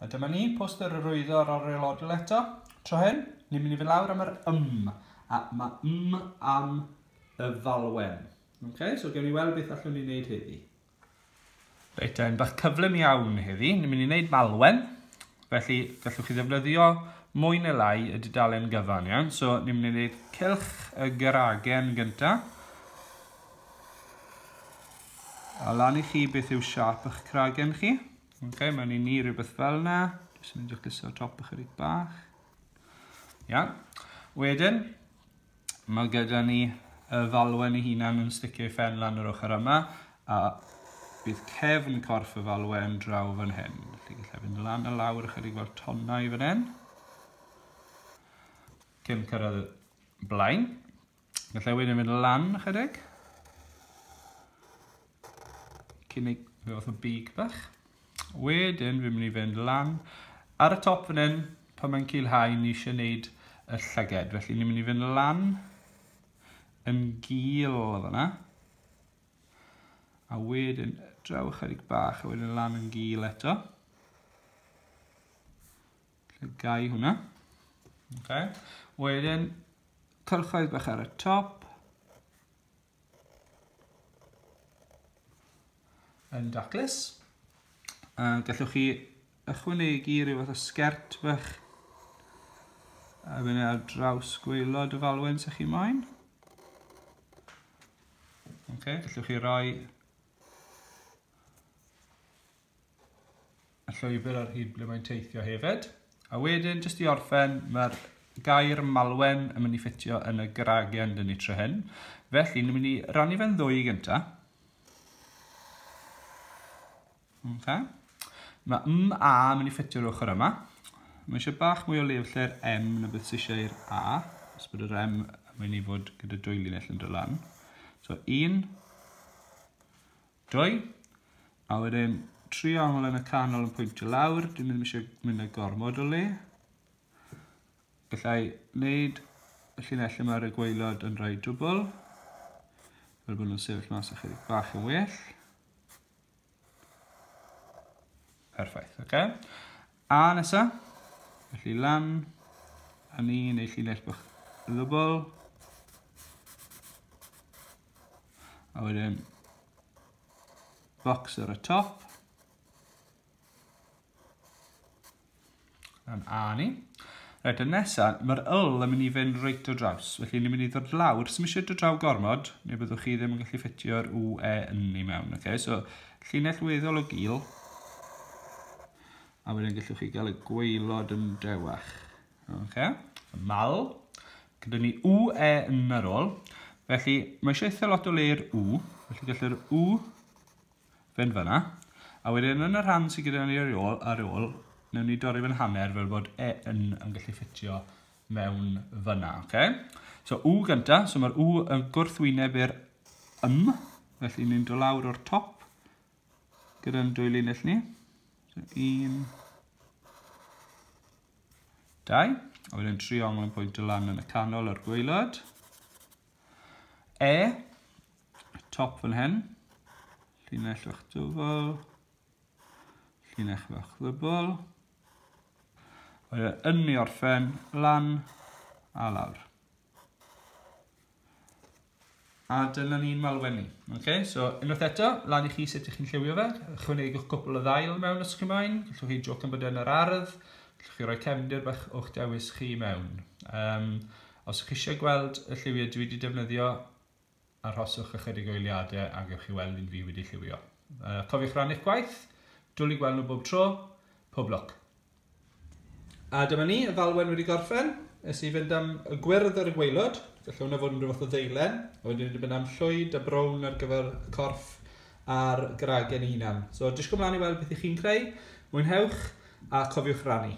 A dyma ni, poster yr oeddo ar yr aelodol eto. Tro hyn, ni'n mynd i fynd lawr am yr ym. A mae ym am y falwen. Okay, so gewn ni weld beth allwn ni wneud heddi. Reit, yn bach cyflym iawn heddi. Ni'n mynd i wneud malwen. Felly, gallwch chi ddefnyddio mwy neu lai y dudalen gyfan, iawn? So, ni'n mynd i wneud cylch y geragen gyntaf. A lan i chi beth yw siâp ych cragen chi. Ok, mae'n i ni rhywbeth fel na. Jyst yn mynd i'ch liso top ychydig bach. Ia. Wedyn, mae gyda ni y falwen ei hunan yn sticio ei ffen lan yr ochr yma, a bydd cefn corff y falwen draw fan hyn. Felly gallai fynd lan a lawr ychydig fel tonnau fan hyn. Cyn cyrraedd blaen. Gallai wedyn mynd lan chydig. Cynnig fe fath o big bach. Wedyn fi'n mynd i fynd lan ar y top fan hyn pan mae'n cilhau ni eisiau gwneud y llyged. Felly ni'n mynd i fynd lan yn gil o fyna. A wedyn draw ychydig bach a wedyn lan yn gil eto. Llygai hwnna. Okay. Wedyn, cylchoedd bach ar y top. Yn daclus. A gallwch chi ychwanegu rhyw fath o sgert bach a fyny ar draws gweilod y falwen sy'ch chi moyn. Okay, gallwch chi roi y llwybr ar hyd ble mae'n teithio hefyd. A wedyn, jyst i orffen, mae'r gair malwen yn mynd i ffitio yn y gragen dyn ni tro hyn. Felly, ni'n mynd i rannu fe'n ddwy gyntaf. Okay. Mae m a yn mynd i ffitio'r ochr yma. Mae eisiau bach mwy o lef lle'r m na beth sy'n eisiau i'r a. Os bod yr m yn mynd i fod gyda dwy linell yn dod lan. So un, Dwy. A wedyn, triongl yn y canol yn pwyntio lawr, dyn ni'n eisiau mynd â gormod o le. Gallai wneud y llinell lle mae'r gweilod yn rhoi dwbl, fel bod nhw'n sefyll mas ychydig bach yn well. Perffaith, oce. Okay. A nesa, felly lan, a ni neu llinell bach ddwbl. A wedyn box ar y top. Yn ani. Rhaid y nesaf, mae'r yl yn mynd i fynd reit o draws. Felly ni'n mynd i ddod lawr. Os eisiau dod draw gormod, neu byddwch chi ddim yn gallu ffitio'r UE yn ni mewn. Okay? So, llinell weddol o gil. A wedyn gallwch chi gael y gweilod yn dewach. Oce, mal. Gyda ni u, e yn yr ôl. Felly, mae eisiau eitha lot o le i'r u. Felly, gallu'r u fynd fyna. A wedyn, yn y rhan sydd gyda ni ar ei ôl, ar ei ôl, newn ni dorri fe'n hanner fel bod e yn yn gallu ffitio mewn fyna. Okay? So, u gyntaf. So, mae'r u yn gwrthwyneb i'r ym. Felly, ni'n dod lawr o'r top gyda'n dwy linell ni. So, un, dau. A wedyn triongl yn pwynt y lan yn y canol a'r gweilad. E, top fan hyn, llinell fach dwfol, llinell fach ddybl. Wedyn yn ni orffen lan a lawr. A dyna ni'n malwenni. Okay? So, unwaith eto, lan i chi sut ych chi'n lliwio fe. Chwynegwch cwpl o ddail mewn os chi'n maen. Gallwch chi joc am bod yn yr ardd. Gallwch chi roi cefndir bach o'ch dewis chi mewn. Um, os ych chi eisiau gweld y lliwiau dwi wedi defnyddio, arhoswch ychydig o eiliadau a gewch chi weld un fi wedi lliwio. Uh, cofiwch rannu'ch gwaith, dwlu gweld nhw bob tro, pob lwc. A dyma ni, y falwen wedi gorffen. Nes i fynd am y gwyrdd ar y gweilod. Felly hwnna fod yn rhywbeth o ddeilen. A wedyn wedi mynd am llwyd a brown ar gyfer y corff a'r gragen ei hunan. So disgwyl mlaen i weld beth i chi'n creu. Mwynhewch a cofiwch rannu.